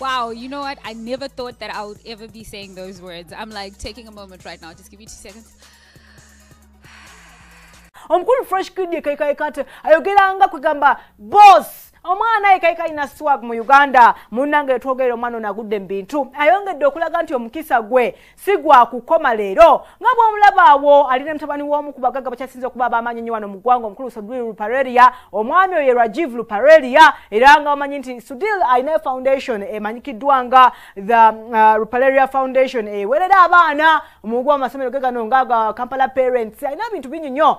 Wow, you know what? I never thought that I would ever be saying those words. I'm like taking a moment right now. Just give me two seconds. omukulu fresh kid yekaikaikate ayogeranga kwegamba boss omwana ekaika alina swag mu uganda munange twogere omwana ono agudde mu bintu ayongedde okulaga nti omukisa gwe si gwa kukoma leero nga bwomulaba awo ali ne mutabani w'omu ku bagagga bakyasinze okuba abamaanyi nnyo wano mu ggwanga omukulu sudil luparelia omwami oyo rajiv luparelia era nga bamanyi nti sudil alina foundation emanyikiddwa nga the uh, ruparelia foundation ewerera abaana omugwa mu masomero ge gano nga ga kampala parents alina bintu bingi nnyo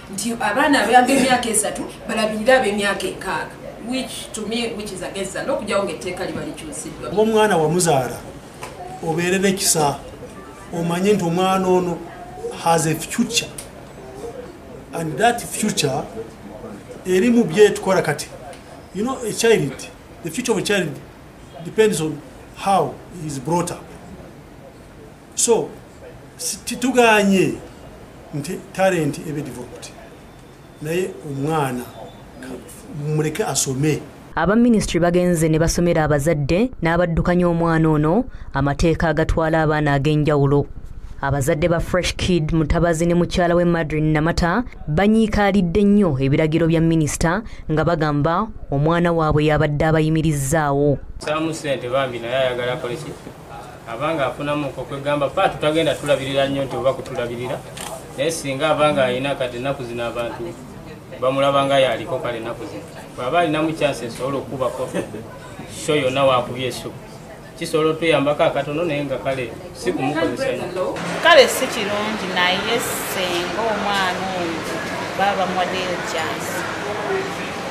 nti abaana abayamba emyaka esatu balabirire ab'emyaka enkaaga okujjawo ngaetteeka liba likyusiddwa oba omwana wamuzaala obeere nekisa omanye nti omwana ono has a future and that future eri mu byetukola kati you know a child the future of a child depends on how he is brought up so tituganye nti talenti ebe developed naye omwana muleke asome aba minisitule bagenze ne basomera abazadde n'abaddukanya omwana ono amateeka agatwala abaana ag'enjawulo abazadde ba fresh kid mutabazi ne mukyala we madrin namata banyiikaalidde nnyo ebiragiro bya minisita nga bagamba omwana waabwe yabadde abayimirizzaawo abanga afunamu nko kwegamba pa tutagenda tulabirira nnyo nti oba kutulabirira naye singa abanga alina kati ennaku zino abantu bamulabanga yaliko kale ennaku zino bwaba alinamu kyansi esobola okukubako sho yonna wakubye esho kisobola otuyambako akatono naye nga kale si kumukozesa nyo kale si kirungi naye senga omwana oyo baba bamuwaddeyo kyansi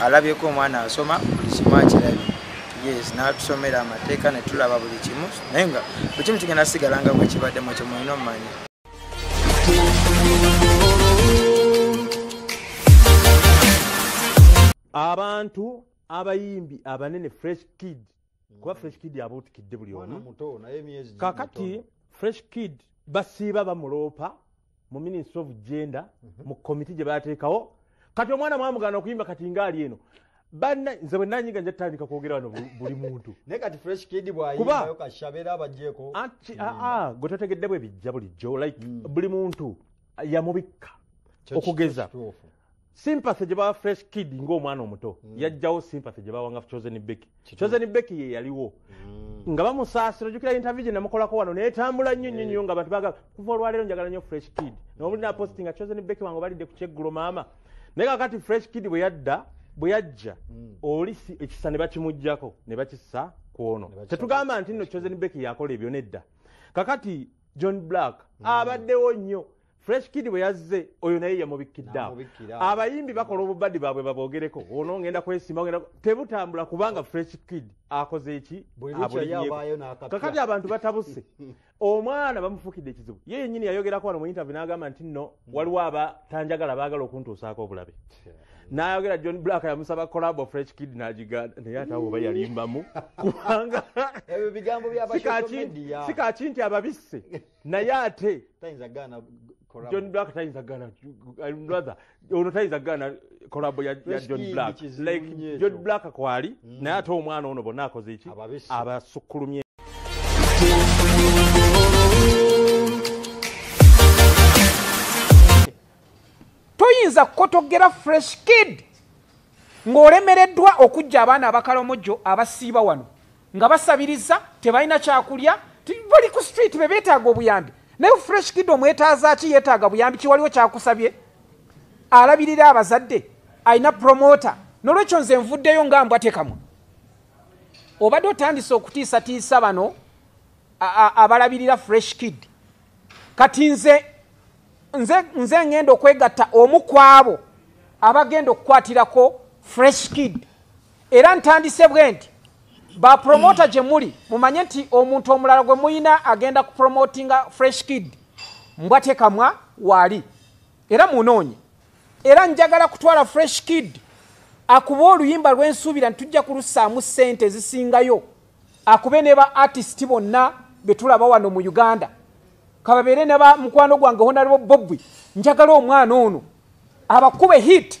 alabyeko omwana asoma buli kimu akirabye yes natusomera amateeka netulaba buli kimu naye nga buli kimu kigenda sigala nga bwekibaddemu ekyo mulina omumanya abantu abayimbi abanene fresh kid kuba fresh kid abuutikidde buli omu kakati fresh kid basiiba bamuloopa mu ministry of gender mhm. mu komiti gye bateekawo kati omwana mwamugana okuyimba kati ngaali eno banna nze bwe nanyiga nja tutandika kwogera wano buli muntu naye kati fresh kid bwayimbayo kashabera abajeko anti aa ah, ah, gwe totegedde bwe bijja bulijjo like mm. buli muntu yamubikka okugeza sympathy gye bawa fresh kid ng'omwana omuto mm. yajjawo sympathy gye bawanga chosen becky chosen becky ye yaliwo mm. nga bamusaasira ojukira interview gye namukolako wano netambula nnyo nnyo nnyo nga bantu bagala kuva olwaleero njagala nnyo fresh kid nomuli naposti nga chosen becky wange balidde ku kyeggulo maama naye kakati fresh kid bwe yadda bwe yajja mm. oli ekisa ne bakimugjako ne bakissa ku ono tetugamba nti nno chosen becky yakola ebyo nedda kakati john black abaddewo nnyo fresh kid bwe yazze oyo naye yamubikkiddeawo abayimbi bakola obubadi baabwe baboogereko ono ngenda kwesimba ngenda tebutambula kubanga fresh kid akoze eki kakati abantu batabuse omwana bamufukidde ekizibu ye yenyini yayogerako wano mu intervy n'agamba nti nno waliwo abatanjagala baagala okuntuusaako obulabe nayogera john black yamusaba colabo fresh kid nagiganda naye atawo oba yalimbamu kubanga sikaki nti ababisse naye ate john black tayinza gaana rather ono tayinza gaana kolabo ya john black like john black kwali mm. naye ate omwana ono bonna akoze eki abasukkulumye toyinza kukotogera fresh kid ng'olemereddwa okujja abaana abakalomojo abasiiba wano nga basabiriza tebalina kyakulya bali ku street bebetaaga obuyambi naye fresh kid omwetaazaki yetaaga buyambi kiwaliwo kyakusabye alabirira abazadde alina promota nolwekyo nze nvuddeyo nga mbwatekamwa obadde otandise okutiisatiisa bano abalabirira fresh kid kati nze nze ngenda okwegatta omu kwabo abagenda okukwatirako fresh kid era ntandise bwe nti bapromota gye muli mumanye nti omuntu omulala gwe muyina agenda kupromotinga fresh kid mbwa tekamwa waali era munoonye era njagala kutwala fresh kid akuba oluyimba lwensuubira ntitujja kulusaamu ssente ezisingayo akube ne ba artist bonna betulaba wano mu uganda kababeere ne ba mukwano gwange honalebo bobwi njagala omwana ono abakube hit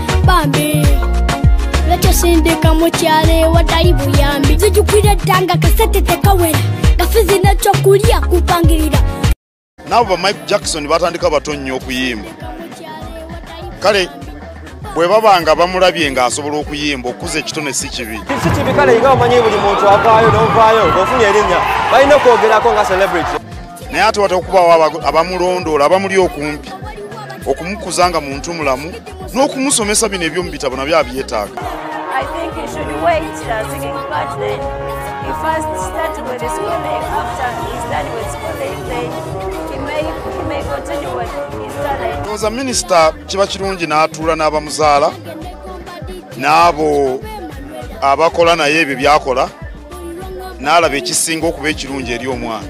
bambi lwekisindika mukyalo ewatali buyambi zijukira ettanga kasete tekawera gafizi nekyokulya kupangirira naabo ba mike jackson batandika bato nnyo okuyimba kale bwe baba nga bamulabye ng'asobola okuyimba okukuza ekitone si kibi si kibi kale nga omanyi buli muntu avaayo novaayo ngaofunye erinnya balina okwogerako nga celebrity naye ate wata okubaawo abamulondoola abamuli okumpi okumukuza nga muntu mulamu n'okumusomesa bino ebyomu bitabo nabyo abyetaaga ndowooza minisita kiba kirungi n'atuula n'abamuzaala n'abo abakola naye ebyo byakola n'alaba ekisinga okuba ekirungi eri omwana